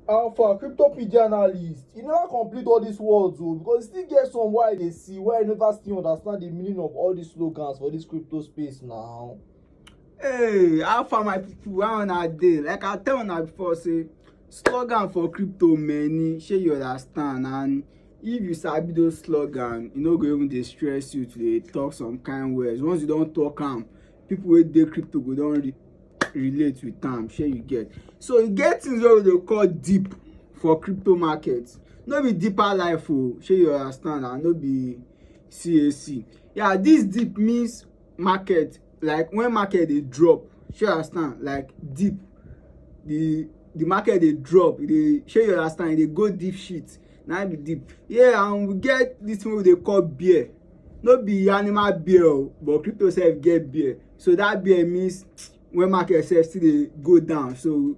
Alpha, cryptopedia analyst, you never complete all these words o oh, because you still get some wey I dey see wey I never still understand the meaning of all these slogans for this crypto space now. Hey, how far my people, how una dey? Like I tell una before say slogan for crypto many, shey you understand and if you sabi those slogan, e no go even dey stress you to dey talk some kind words. Once you don talk am, people wey dey crypto go don re relate with am shey you get so e get things wey we dey call deep for crypto market no be deeper life o oh, shey you understand and no be cac yeah this deep means market like when market dey drop shey you understand like deep the the market dey drop e dey shey you understand e dey go deep shit na be deep yeah and we get this thing wey we dey call bear no be animal beer o but crypto sef get beer so that beer means when market sef still dey go down so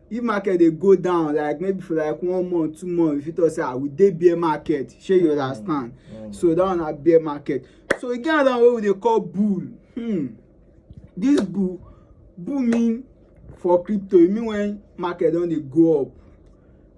if market dey go down like maybe for like one month two month you fit talk say ah we dey bear market shey you mm. understand mm. so that one na bear market so e get another one wey we dey call bull hmm. this bull bull mean for crypto e mean when market don dey go up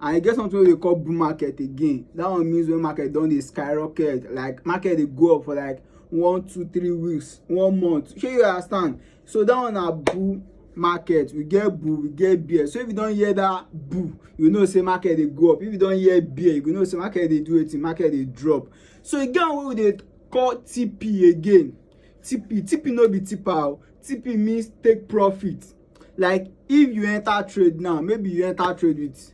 and e get something wey we call bull market again that one means when market don dey skyrocket like market dey go up for like one two three weeks one month shey you understand so that one na bull market we get bull we get bear so if you don hear that bull you know say market dey go up if you don hear bear you go know say market dey do wetin market dey drop so e get one wey we dey call tp again tp tp no be tipa o tp means take profit like if you enter trade now maybe you enter trade with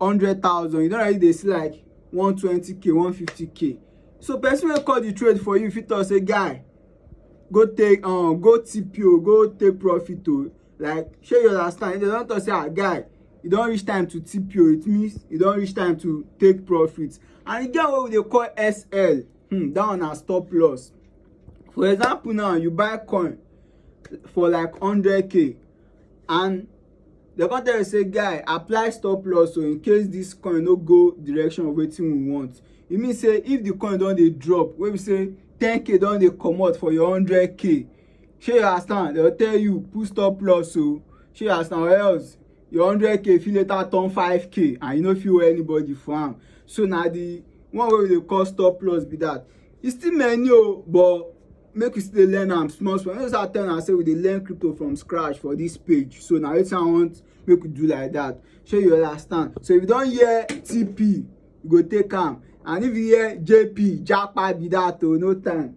hundred thousand you don already dey see like one twenty k one fifty k so person wey call the trade for you fit talk say guy go take um, go tip you go take profit o like shey you understand if dem don talk say ah guy e don reach time to tip you it means e don reach time to take profit and e get what we dey call sl hmm, that one na stop loss for example now you buy coin for like 100k and dem come tell you say guy apply stop loss so in case this coin no go direction of wetin we want e mean say if the coin don dey drop wey be say 10k don dey comot for your 100k shey you understand dem tell you put stop loss o shey you understand or else your hundred k fit later turn five k and you no fit owe anybody for am so na the one wey we dey call stop loss be that e still many o oh, but make we still dey learn am small small no start tell am say we dey learn crypto from scratch for this page so na wetin i want make we do like that shey you understand so if you don hear tp you go take am and if you hear jp japa be that o oh, no time.